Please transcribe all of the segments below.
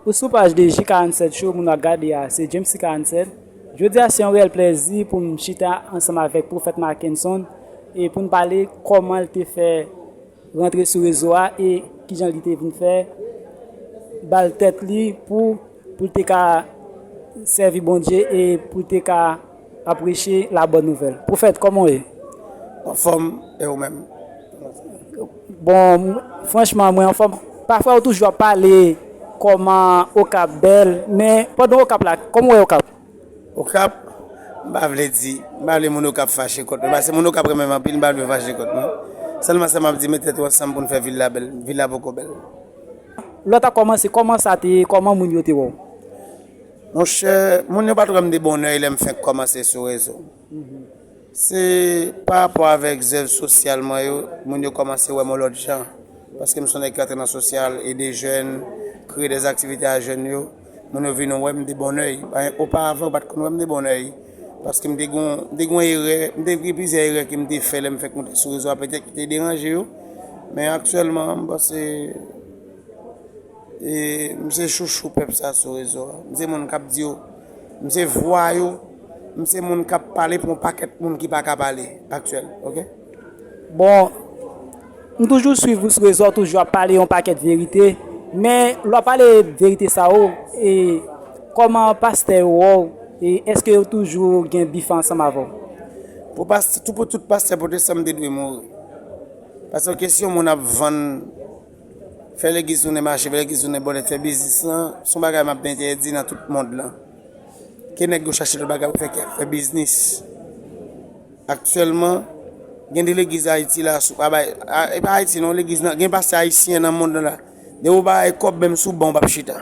Ou sou paj de Ji 47 Show moun wap gade a se Jamesy 47 Jodi a se yon reyèl plèzi pou m chita ansanm avèk Pwofèt Mackenson e pou n pale kòman l te fè rantre sou rezo a e kijan li te vin fè ba l tèt li pou pou l te ka sèvi Bondye e pou l te ka Map preche la bonne nouvelle. Profèt kòman w ye? Anfòm, e ou menm? Bon, franchman mwen anfòm. Pafwa ou toujou ap pale kòman Okap bèl, men pandan Okap la, kòman ou wè Okap? Okap, m pa vle di, m pa vle moun Okap fache kont mwen, pase moun Okap renmen m anpil, m pa vle yo fache kont mwen. Sèlman sa map di, met tèt ou ansanm pou nou fè vil la bèl, vil la poko bèl. Lè w ta kòmanse, kòman sa te ye, kòman moun yo te wè w? Monchè, moun yo pat wè m de bon òy lè m fenk kòmanse sou rezo. Se pa rapò avèk zèv sosyal mwen yo, moun yo kòmanse wè m yon lòt jan. Paske m son nèg ki antre nan sosyal, ede jèn, kreye dè aktivite a jèn yo, moun yo vin wè m de bon òy. Oparavan, yo pat konn wè m de bon òy. Paske m te gen yon, m te gen yon erè, m te gen plizyè erè ke m te fè lè m fenk monte sou rezo a, petèt ki te deranje yo. Men aktyèlman, m panse. M se chouchou pèp sa sou rezo a. M se moun k ap di yo. M se vwa yo. M se moun k ap pale pou yon pakèt moun ki pa ka pale aktyèl. Ok. Bon, m toujou swiv ou sou rezo a, ou toujou ap pale yon pakèt verite. Men, lè w ap pale verite sa yo, e kòman pastè yo wè w? E èske yo toujou gen bif ansanm avè w? Pou pastè, pou tout pastè pwotestan m te dwe mouri. Paske kesyon moun ap vann. Fè legliz tounen mache, fè legliz tounen bòlèt, fè biznis lan, se yon bagay m ap entèdi nan tout mond lan. Ke nèg yo chache lòt bagay pou fè kè, fè biznis. Aktyèlman, gen de legliz Ayiti la, si w pa bay, e pa Ayiti non, legliz nan, gen pastè ayisyen nan mond lan la. De ou pa bay kòb menm si w bon, w pa p chita.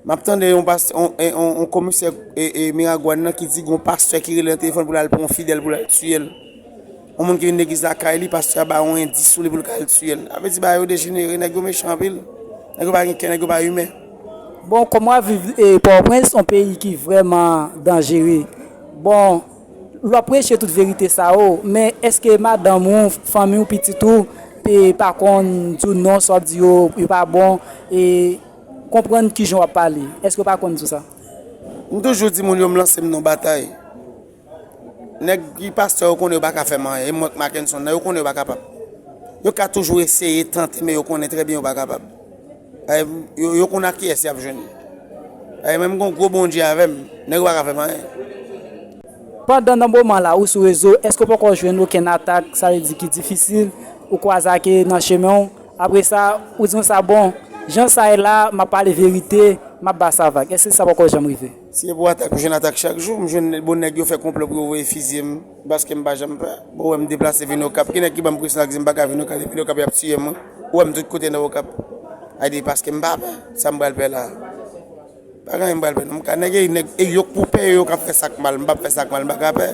M ap tande yon pastè, yon komisè Miragwàn nan ki di gen yon pastè ki rele nan telefòn pou l al pran yon fidèl pou l al tiye l. Yon moun ki vin legliz la kay li pastè a ba yon endis sou li pou l ka al tiyel. Sa vle di bagay yo dejenere nèg yo mechan anpil. Nèg yo pa gen kè nèg yo pa imen. Bon kòm wap viv pòtoprens yon peyi ki vrèman danjere bon wap preche tout verite sa yo men eske madanm ou fanmi ou pitit ou te pa konn di w non sa wap di yo yo pa bon e konprann kijan wap pale eske yo pa konn di w sa. M toujou di moun yo m lanse m nan batay. Nèg ki pastè yo konnen yo pa ka fè m anyen, e mwen k Makenson nan, yo konnen yo pa kapab. Yo ka toujou eseye, tante, men yo konnen trè byen yo pa kapab. E, yo konn ak kiyès y ap jwenn. E, mwen m gen yon gwo Bondye avè m, nèg yo pa ka fè m anyen. Pandan nan moman la ou sou rezo, èske ou poko jwenn okenn atak, sa vle di ki difisil, ou kwaze ak e nan chemen ou? Apre sa, ou di konsa, bon, jan sa ye la, m ap pale verite, m ap ba sa vag. Èske sa poko janm rive? Si se pou atak m jwenn atak chak jou, m jwenn bon nèg yo fè konplò pou yo voye fizye m paske m pa janm pè. Ou wè m deplase vin Okap, ki nèg ki ban m presyon ak di m pa ka vin Okap depi Okap y ap tiye mwen? Ou wè m tout kote nan Okap. A di paske m pa pè, sa m pral pè la a? Pa gen anyen m pral pè non. M ka nèg e nèg e yo k pou pè e yo k ap fè sa k mal. M p ap fè sa k mal, m pa ka pè.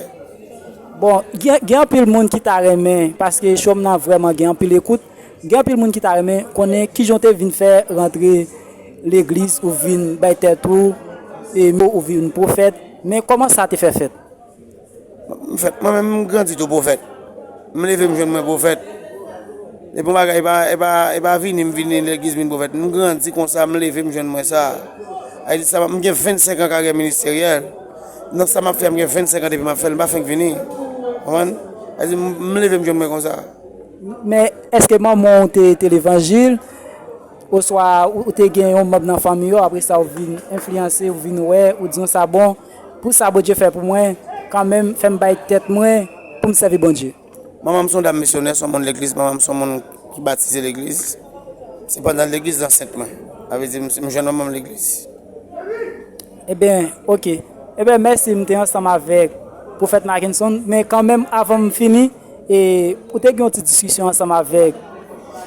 Bon, gen anpil moun ki ta renmen paske show m nan vrèman gen anpil ekout. Gen anpil moun ki ta renmen konnen kijan w te vin fè rantre legliz ou vin bay tèt ou mo ou vin pwofèt men kòman sa te fè fèt? Mwen menm m grandi tou pwofèt, m leve m jwenn mwen pwofèt epi yon bagay e pa vini m vini legliz m vin pwofèt m grandi konsa m leve m jwenn mwen sa m gen 25 an karyè ministeryèl nan sa m ap fè a m gen 25 an depi m ap fè l m pa fenk vini m leve m jwenn mwen konsa. Men, èske manman w te te levanjil? Oswa ou te gen yon manb nan fanmi yo, apre sa ou vin enfliyanse, ou vin wè, ou di yon sa bon, pou sa Bondye fè pou mwen, kanmenm fè m bay tèt mwen pou m sèvi Bondye. Manman m se yon dam misyonè, se yon moun legliz. Manman m se yon moun ki batize legliz. Se pandan legliz lansèt mwen. Sa vle di m jwenn manman m legliz. Ebyen ok Ebyen mèsi m te ansanm avèk Pwofèt Mackenson men kanmenm avan m fini e ou te gen yon ti diskisyon ansanm avèk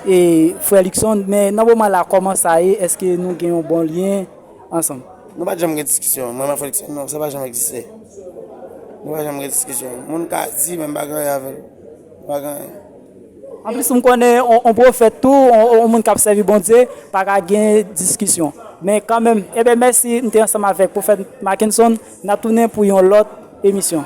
e frè Luckson men nan moman la kòman sa ye eske nou gen yon bon lyen ansanm. Nou pat janm gen diskisyon mwen nan frè Luckson non sa pa janm egziste nou pa janm gen diskisyon moun ka di men m pa gen anyen avèl m pa gen anyen. Anplis m konnen on pwofèt tou, on moun kap sèvi Bondye pa ka gen diskisyon. Men kanmenm, eben mèsi m te ansanm avèk pwofèt Mackenson, nap tounen pou yon lòt emisyon.